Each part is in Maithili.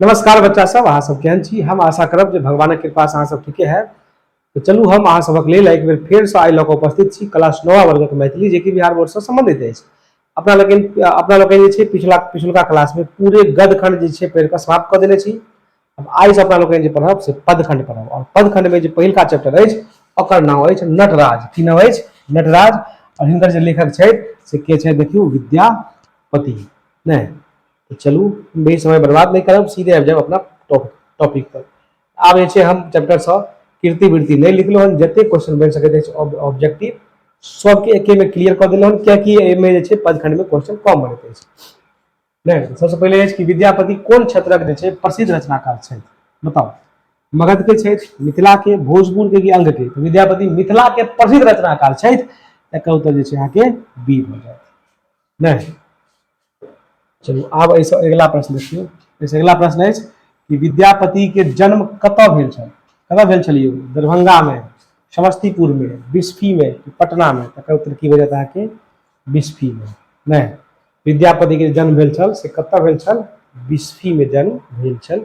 नमस्कार बच्चा सब अहाँ सब केहन छी हम आशा करब जे भगवानक कृपा से अहाँ सब ठीके है तो चलू हम अहाँ सबक लेल एक बेर फेर से आइ लऽ कऽ उपस्थित छी क्लास नवा वर्गक मैथिली जे कि बिहार बोर्डसँ सम्बन्धित अछि अपना लोकनि अपना लोकनि जे छै पिछला पिछुलका क्लासमे पूरे गदखंड जे छै पढ़ि कऽ समाप्त कऽ देने छी अब आइ से अपना लोकनि जे पढ़ब से पदखंड पढ़ब आओर पदखंडमे जे पहिलका चैप्टर अछि ओकर नाम अछि नटराज की नाम अछि नटराज आओर हिनकर जे लेखक छथि से के छथि देखियौ विद्यापति नहि तऽ चलू बेसी समय बर्बाद नहि करब सीधे आबि जायब अपना टॉप टॉपिक पर आब जे छै हम चैप्टर सँ कीर्ति वृत्ति नहि लिखलहुँ हन जतेक क्वेश्चन बनि सकैत अछि ऑब्जेक्टिव सभके एकेमे क्लियर कऽ देलहुँ हन कियाकि एहिमे जे छै पदखंडमे क्वेश्चन कम बनैत अछि नहि तऽ सभसँ पहिले अछि कि विद्यापति कोन क्षेत्रक जे छै प्रसिद्ध रचनाकार छथि बताउ मगधके छथि मिथिलाके भोजपुरके कि अंगके तऽ विद्यापति मिथिलाके प्रसिद्ध रचनाकार छथि एकर उत्तर जे छै अहाँके बी भऽ जायत नहि चलू आब एहिसँ अगिला प्रश्न देखियौ एहिसँ अगिला प्रश्न अछि कि विद्यापतिके जन्म कतय भेल छल कतय भेल छलियै दरभंगामे समस्तीपुरमे बिस्फीमे पटनामे तकर उत्तर की भऽ जायत अहाँके बिस्फीमे नहि विद्यापतिके जन्म भेल छल से कतय भेल छल बिस्फीमे जन्म भेल छल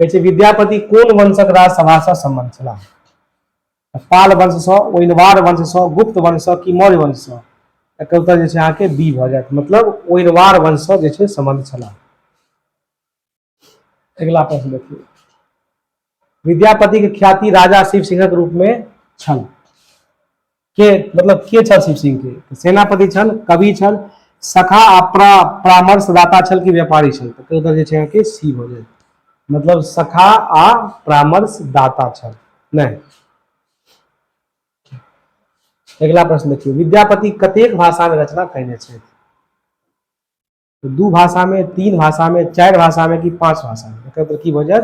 कहै छै विद्यापति कोन वंशक राज सभासँ सम्बन्ध छलाह पाल वंशसँ ओहिनवार वंशसँ गुप्त वंशसँ कि मौर्य वंशसँ एकर उत्तर जे छै अहाँके बी भऽ जायत मतलब ओहिनवार वंशसँ जे छै सम्बन्ध छलाह अगिला प्रश्न देखियौ विद्यापतिक ख्याति राजा शिव सिंहक रूपमे छल के मतलब के छल शिव सिंह के सेनापति छल कवि छल सखा आ प्रा परामर्शदाता छल कि व्यापारी छल तऽ एकर उत्तर जे छै अहाँके सी भऽ जायत मतलब सखा आ परामर्शदाता छल नहि अगिला प्रश्न देखियौ विद्यापति कतेक भाषा में रचना कयने छथि तो दू भाषा में तीन भाषा में चार भाषा में कि पांच भाषा में एकर मतलब की भऽ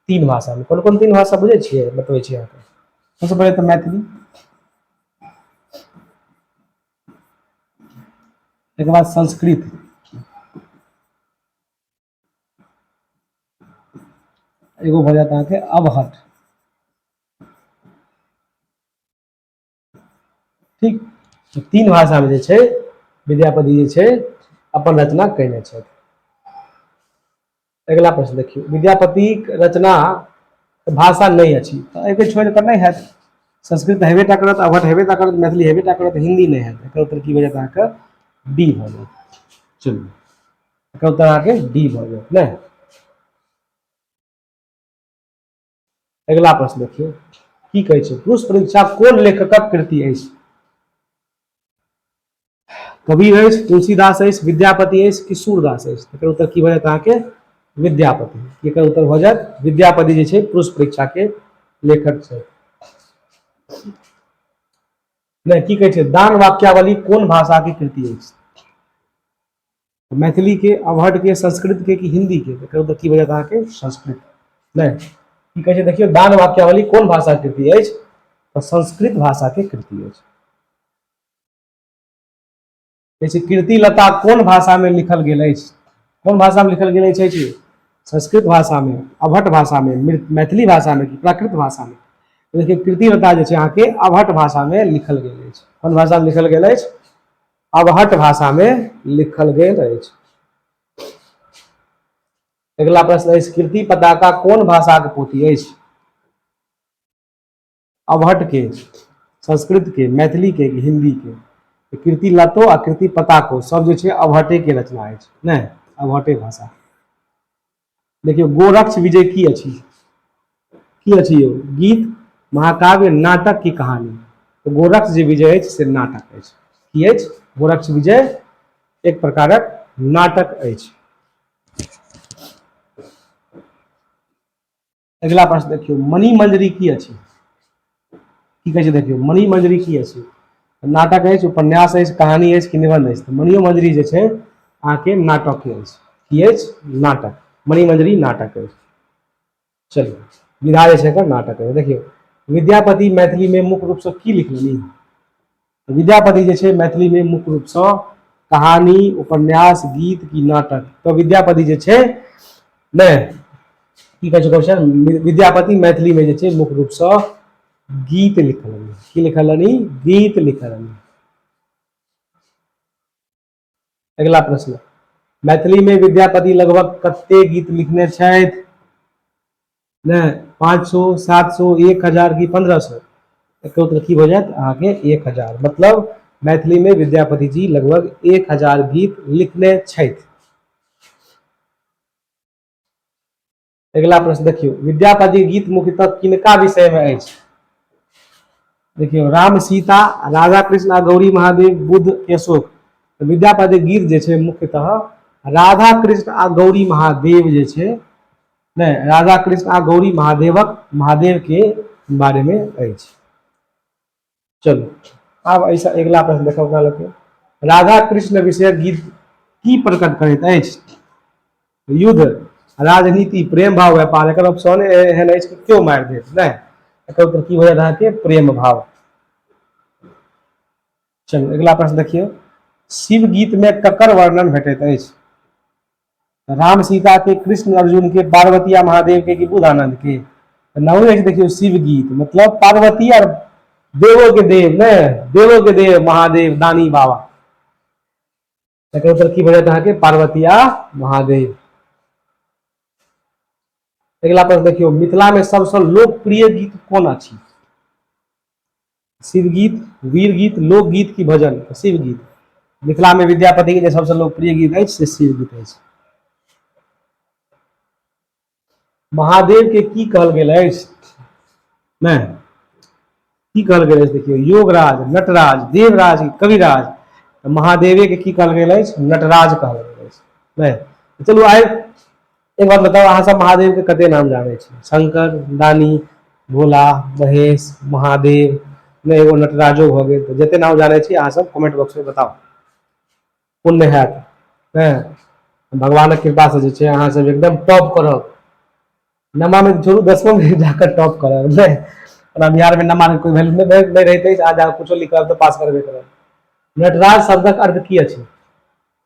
तीन भाषा में कौन कौन तीन भाषा बुझे छे बतबै छे अहाँके सबसे पहले तो मैथिली एक बाद संस्कृत एगो भऽ जायत अहाँके अवहट ठीक तऽ तीन भाषामे जे छै विद्यापति जे छै अपन रचना कयने छथि अगिला प्रश्न देखियौ विद्यापतिक रचना भाषा नहि अछि तऽ एहिके छोड़ि कऽ नहि हैत संस्कृत तऽ हेबे टा करत अवहट हेबे टा करत मैथिली हेबे टा करत हिन्दी नहि हैत एकर उत्तर की भऽ जायत अहाँके डी भऽ जायत चलू एकर उत्तर अहाँके डी भऽ जायत नहि अगिला प्रश्न देखियौ की कहै छै पुरुष परीक्षा कोन लेखकक कृति अछि कवि अछि तुलसीदास अछि विद्यापति अछि कि सूरदास अछि तकर उत्तर की भऽ जायत अहाँके विद्यापति एकर उत्तर भऽ जायत विद्यापति जे छै पुरुष परीक्षा के लेखक छै नहि की कहै छै दान वाक्यावली कोन भाषा के कृति अछि मैथिलीके अवहटके संस्कृतके कि हिन्दीके तऽ कहू तऽ की बजत अहाँके संस्कृत नहि की कहै छै देखियौ दान वाक्यावली कोन भाषा कृति अछि तऽ संस्कृत भाषाके कृति अछि जैसे कृति लता कोन भाषामे लिखल गेल अछि कोन भाषामे लिखल गेल अछि जी संस्कृत भाषामे अवहट भाषामे मैथिली भाषामे कि प्राकृत भाषामे देखियौ कृति लता जे छै अहाँके अवहट भाषामे लिखल गेल अछि कोन भाषामे लिखल गेल अछि अवहट भाषा में लिखल गेल अछि अगला प्रश्न अछि कीर्ति पताका कोन भाषा के पोथी अछि अवहट के संस्कृत के मैथिली के हिंदी के तो कीर्ति लतो आ कीर्ति पताको सब जो अवहटे के रचना है नहीं अवहटे भाषा देखियौ गोरक्ष विजय की अछि की अछि यौ गीत महाकाव्य नाटक की कहानी तो गोरक्ष जे विजय अछि से नाटक अछि की अछि गोरक्ष विजय एक प्रकारक नाटक अछि अगिला प्रश्न देखियौ मणि मंजरी की अछि की कहै छै देखियौ मणि मंजरी की अछि नाटक अछि उपन्यास अछि कहानी अछि कि निबंध अछि तऽ मणियो मंजरी जे छै अहाँके नाटक अछि की अछि नाटक मणि मंजरी नाटक अछि चलू विधा जे छै एकर नाटक अछि देखियौ विद्यापति मैथिलीमे मुख्य रूपसँ की लिखलनि विद्यापति जे छै मैथिलीमे मुख्य रूपसँ कहानी उपन्यास गीत की नाटक तऽ विद्यापति जे छै नहि की कहै छै क्वेश्चन विद्यापति मैथिलीमे जे छै मुख्य रूपसँ गीत लिखलनि की लिखलनि गीत लिखलनि अगिला प्रश्न मैथिली में विद्यापति लगभग कते गीत लिखने छथि ने पाँच सौ सात सौ एक हजार की पंद्रह सौ एक उत्तर की हो जात अहाँके एक हजार मतलब मैथिली में विद्यापति जी लगभग एक हजार गीत लिखने छथि अगिला प्रश्न देखियौ विद्यापति गीत मुख्यतः किनका विषय में अछि देखियौ राम सीता राधा कृष्ण आ गौरी महादेव बुद्ध केशोक तऽ विद्यापति गीत जे छै मुख्यतः राधा कृष्ण आ गौरी महादेव जे छै ने राधा कृष्ण आ गौरी महादेवक महादेव के बारे में अछि चलू आब एहिसँ अगिला प्रश्न देखब अपना लोकके राधा कृष्ण विषयक गीत की प्रकट करैत अछि युद्ध राजनीति प्रेम भाव व्यापार एकर ऑप्शन एहन अछि कि क्यों मारि देत नहि एकर उत्तर की होयत अहाँके प्रेम भाव चलू अगिला प्रश्न देखियौ शिव गीत में ककर वर्णन भेटैत अछि राम सीता के कृष्ण अर्जुन के पार्वतिया महादेव के कि बुधानंद के तो नौ एक देखियो शिव गीत मतलब पार्वती और देवो के देव ने देवो के देव महादेव दानी बाबा तकर उत्तर की बजत अहाँके पार्वतिया महादेव अगला प्रश्न देखियो मिथिला में सबसे लोकप्रिय गीत कौन अछि शिवगीत वीरगीत लोकगीत की भजन शिवगीत मिथिला में विद्यापति के सबसे लोकप्रिय गीत है से शिवगीत है महादेव के की कहल गेल अछि नहि की कहल गेल अछि देखियौ योगराज नटराज देवराज कविराज महादेवे के की कहल गेल अछि नटराज कहल गेल अछि नहि चलू आइ एक बात बताउ अहाँ सब महादेव के कते नाम जानै छी शंकर दानी भोला महेश महादेव नहि एगो नटराजो भऽ गेल तऽ जते नाम जानै छी अहाँसभ कमेंट बॉक्समे बताउ पुण्य हैत हँ भगवानक कृपासँ जे छै अहाँसभ एकदम टॉप करब नमामे छोड़ू दसमोमे जाकर टॉप करब नहि ओना बिहारमे नमाके कोइ वैल्यू नहि नहि रहितै आज अहाँ कुछो लिखब तऽ पास करबे करब नटराज शब्दक अर्थ की अछि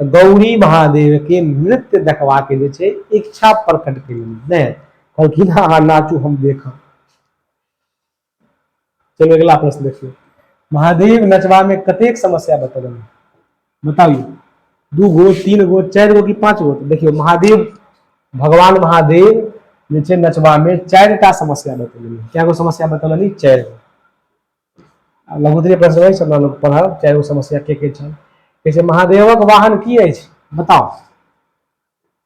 गौरी महादेव के नृत्य देखवा के जे छै इच्छा प्रकट के नहीं कहलखिन हाँ हाँ नाचू हम देख चलो अगला प्रश्न देखियो महादेव नचवा में कतेक समस्या बता बताइए दू गो तीन गो चार गो की पांच गो देखियो महादेव भगवान महादेव जे नचवा में चार समस्या बतल क्या गो समस्या बतल चार गो लघुतरी प्रश्न अछि हमरा लोग पढ़ब चाहे ओ समस्या के के छल कहै छै महादेवक वाहन की अछि बताओ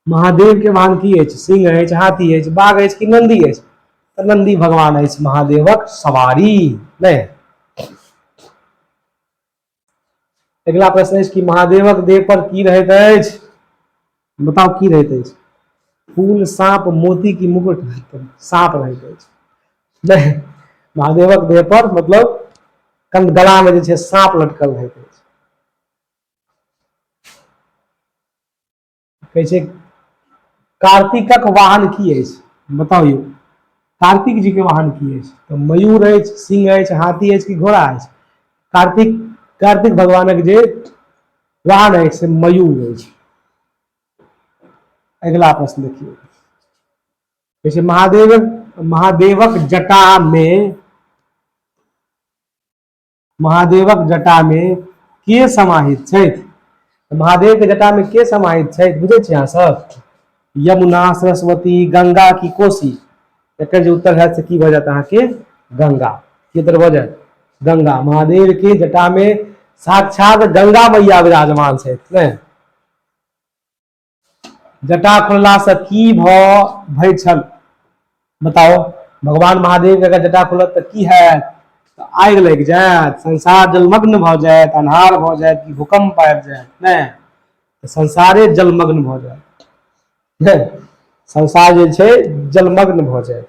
महादेव के वाहन की अछि सिंह अछि हाथी अछि बाघ अछि कि नंदी अछि तऽ नंदी भगवान अछि महादेवक सवारी नहि अगिला प्रश्न अछि कि महादेवक देह पर की रहैत अछि बताउ की रहैत अछि फूल साँप मोती की मुकुट साँप रहैत अछि नहि महादेवक देह पर मतलब कंद गला में जे छै साँप लटकल रहैत अछि कहै छै कार्तिकक वाहन की अछि बताउ यौ कार्तिक जी के वाहन की अछि तऽ मयूर अछि सिंह अछि हाथी अछि कि घोड़ा अछि कार्तिक कार्तिक भगवानक जे वाहन अछि से मयूर अछि अगिला प्रश्न देखियौ जैसे महादेव महादेवक जटा में महादेवक जटा मे के समाहित छथि महादेव के जटा में के समाहित छथि बुझे छी अहाँ सब यमुना सरस्वती गंगा की कोसी एक जो उत्तर है से की भऽ जायत अहाँके गंगा की उत्तर भऽ जायत गंगा महादेव के जटा में साक्षात गंगा मैया विराजमान छथि ने जटा खुलला से की भ भय छल बताओ भगवान महादेव के अगर जटा खुलत त की है त आग लग जायत संसार जलमग्न भ जायत अन्हार भ जायत कि भूकंप आबि जायत ने त संसारे जलमग्न भ जायत ने संसार जे छै जलमग्न भ जायत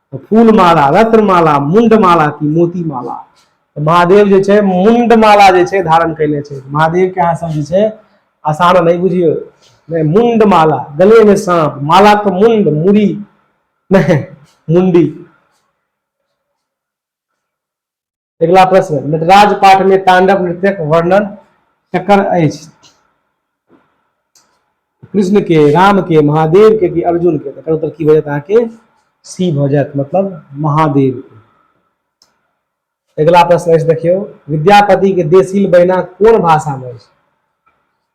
फूल माला रत्न माला मुंड माला की मोती माला तो महादेव जे छे मुंड माला जे छे धारण कैले छे महादेव के अहाँ सब जे छे आसान नहीं बुझियो नहीं मुंड माला गले में सांप माला के मुंड मुड़ी नहीं मुंडी अगिला प्रश्न नटराज पाठ में तांडव नृत्यक वर्णन ककर अछि कृष्ण के राम के महादेव के कि अर्जुन के तकर उत्तर की भऽ जायत अहाँके सी भऽ जायत मतलब महादेव के अगिला प्रश्न अछि देखियौ विद्यापति के देशील बहिना कोन भाषा में अछि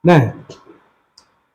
नहि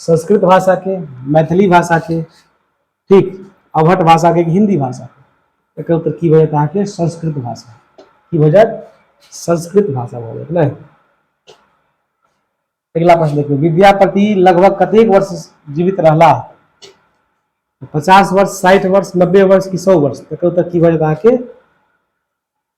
संस्कृत भाषा के मैथिली भाषा के ठीक अवहट भाषा के हिंदी भाषा के एक उत्तर की भजत अहाँ के संस्कृत भाषा की भजत संस्कृत भाषा भऽ जायत नहि अगिला प्रश्न देखियौ विद्यापति लगभग कतेक वर्ष जीवित रहला पचास वर्ष साठि वर्ष नब्बे वर्ष की सौ वर्ष एक उत्तर की भजत अहाँ के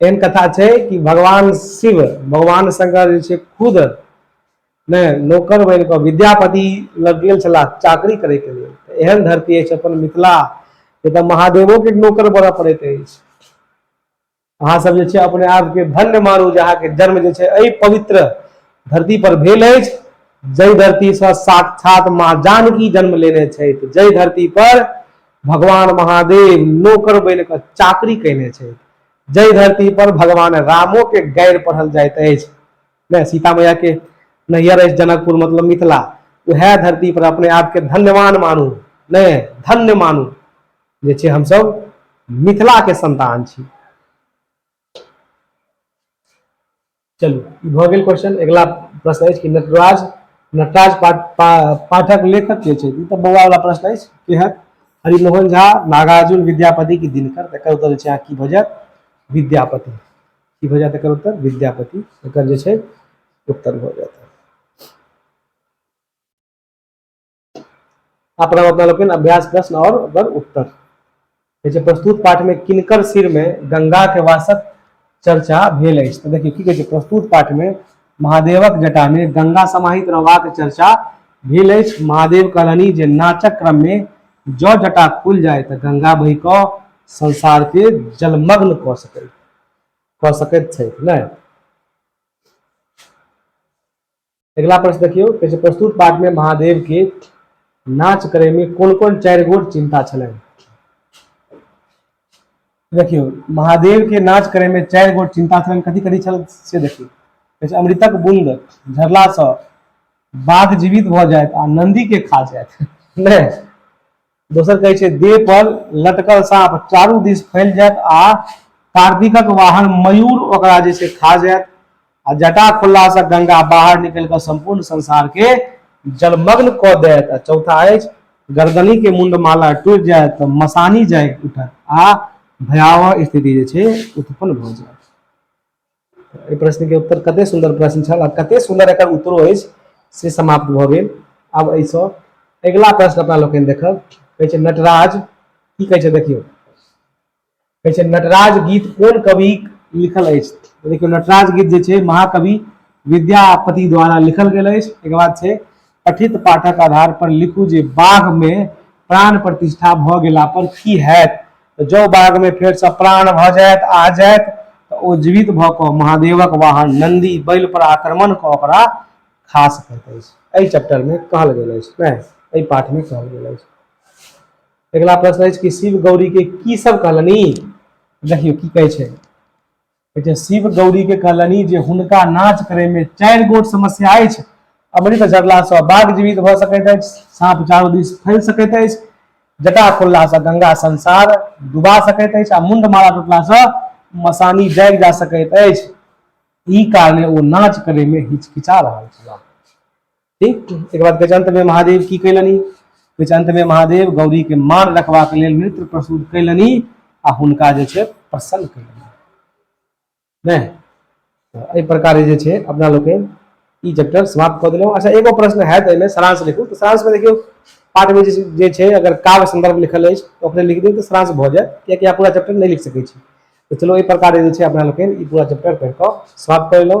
एहन कथा छै कि भगवान शिव भगवान शंकर जे छै खुद ने नौकर बनि कऽ विद्यापति लग गेल छलाह चाकरी करैके लेल एहन धरती अछि अपन मिथिला जतऽ महादेवोके नौकर बनऽ पड़ैत अछि अहाँ सब जे छै अपने आपके धन्य मानू जे अहाँके जन्म जे छै एहि पवित्र धरती पर भेल अछि जय धरती से साक्षात माँ जानकी जन्म लेने छथि जय धरती पर भगवान महादेव नौकर बनि कऽ चाकरी कयने छथि जय धरती पर भगवान रामो के गैर पढ़ल जाइत अछि ने सीता मैया के नैहर अछि जनकपुर मतलब मिथिला उहे धरती पर अपने आप के धन्यवान मानू ने धन्य मानू जे छे हम सब मिथिला के संतान छी चलू ई भऽ गेल क्वेश्चन अगिला प्रश्न अछि कि नटराज नटराज पा, पा, पाठक लेखक के छै ई तऽ बौआ वाला प्रश्न अछि केहन हरिमोहन झा नागार्जुन विद्यापति की दिनकर तकर तो उत्तर छै अहाँ की भऽ जायत विद्यापति की भऽ जायत एकर उत्तर विद्यापति एकर जे छै उत्तर भऽ जायत आ प्रणाम अपना लोकनि अभ्यास प्रश्न और ओकर उत्तर जे प्रस्तुत पाठ में किनकर सिर में गंगा के वासक चर्चा भेल अछि तऽ देखियौ की कहै छै प्रस्तुत पाठ में महादेवक जटा में गंगा समाहित रहबाक चर्चा भेल अछि महादेव कहलनि जे नाचक क्रम में जौ जटा खुल जाय तऽ गंगा बहि कऽ संसार के जलमग्न कऽ सकै कऽ सकैत छथि नहि अगिला प्रश्न देखियौ कहै छै प्रस्तुत पाठमे महादेवके नाच करैमे कोन कोन चारि गोट चिन्ता छलनि देखियौ महादेवके नाच करैमे चारि गोट चिन्ता छलनि कथी कथी छल से देखियौ कहै छै अमृतक बूंद झरलासँ बाघ जीवित भऽ जायत आ नन्दीके खा जायत नहि दोसर कहै छै देह पर लटकल साँप चारू दिस फैल जायत आ कार्तिकक वाहन मयूर ओकरा जे छै खा जायत आ जटा खुललासँ गंगा बाहर निकलि कऽ सम्पूर्ण संसारके जलमग्न कऽ देत आ चौथा अछि गर्दनी के मुंड माला टूटि जाय तऽ मसानी जाय उठत आ भयावह स्थिति जे छै उत्पन्न भऽ जायत एहि प्रश्न के उत्तर कते सुंदर प्रश्न छल आ कते सुंदर एकर उत्तरो अछि से समाप्त भऽ गेल आब एहिसँ अगिला प्रश्न अपना लोकनि देखब कहै छै नटराज की कहै छै देखियौ कहै छै नटराज गीत कोन कवि लिखल अछि देखियौ नटराज गीत जे छै महाकवि विद्यापति द्वारा लिखल गेल अछि एकर बाद छै कथित पाठक आधार पर लिखू जे बाघ मे प्राण प्रतिष्ठा भऽ गेला पर की हैत जौ बाघ मे फेर से प्राण भऽ जायत आ जायत तऽ ओ जीवित भऽ कऽ महादेवक वाहन नंदी बैल पर आक्रमण कऽ ओकरा खा सकैत अछि एहि चैप्टर मे कहल गेल अछि नहि एहि पाठ मे कहल गेल अछि अगिला प्रश्न अछि कि शिव गौरी के की सब कहलनि देखियौ की कहै छै लेकिन शिव गौरी के कहलनि जे हुनका नाच करे में चार गोट समस्या है अमृत झरला से बाघ जीवित भ सकैत अछि साँप चारू दिस फैल सकैत अछि जटा खोलला से गंगा संसार डुबा सकैत अछि आ मुंड माला टूटला से मसानी जागि जा सकैत अछि ई कारणे ओ नाच करे में हिचकिचा रहल छलाह ठीक एक बाद गजंत में महादेव की कैलनी गजंत में महादेव गौरी के मान रखवा के लेल नृत्य प्रस्तुत कैलनी आ हुनका जे छे प्रसन्न कैलनी नहीं तो एहि प्रकार जे छे अपना लोग ई चैप्टर समाप्त कर दिलों अच्छा एगो प्रश्न है तो सारांश लिखू तो सारांश में देखियो पाठ में जे छे अगर काव्य संदर्भ लिखल है तो अपने लिख दियो तो सारांश भ जाए कियाकि आप पूरा चैप्टर नहीं लिख सके तो चलो एहि प्रकार जे छे अपना लोग ई पूरा चैप्टर पढ़ के समाप्त कर लो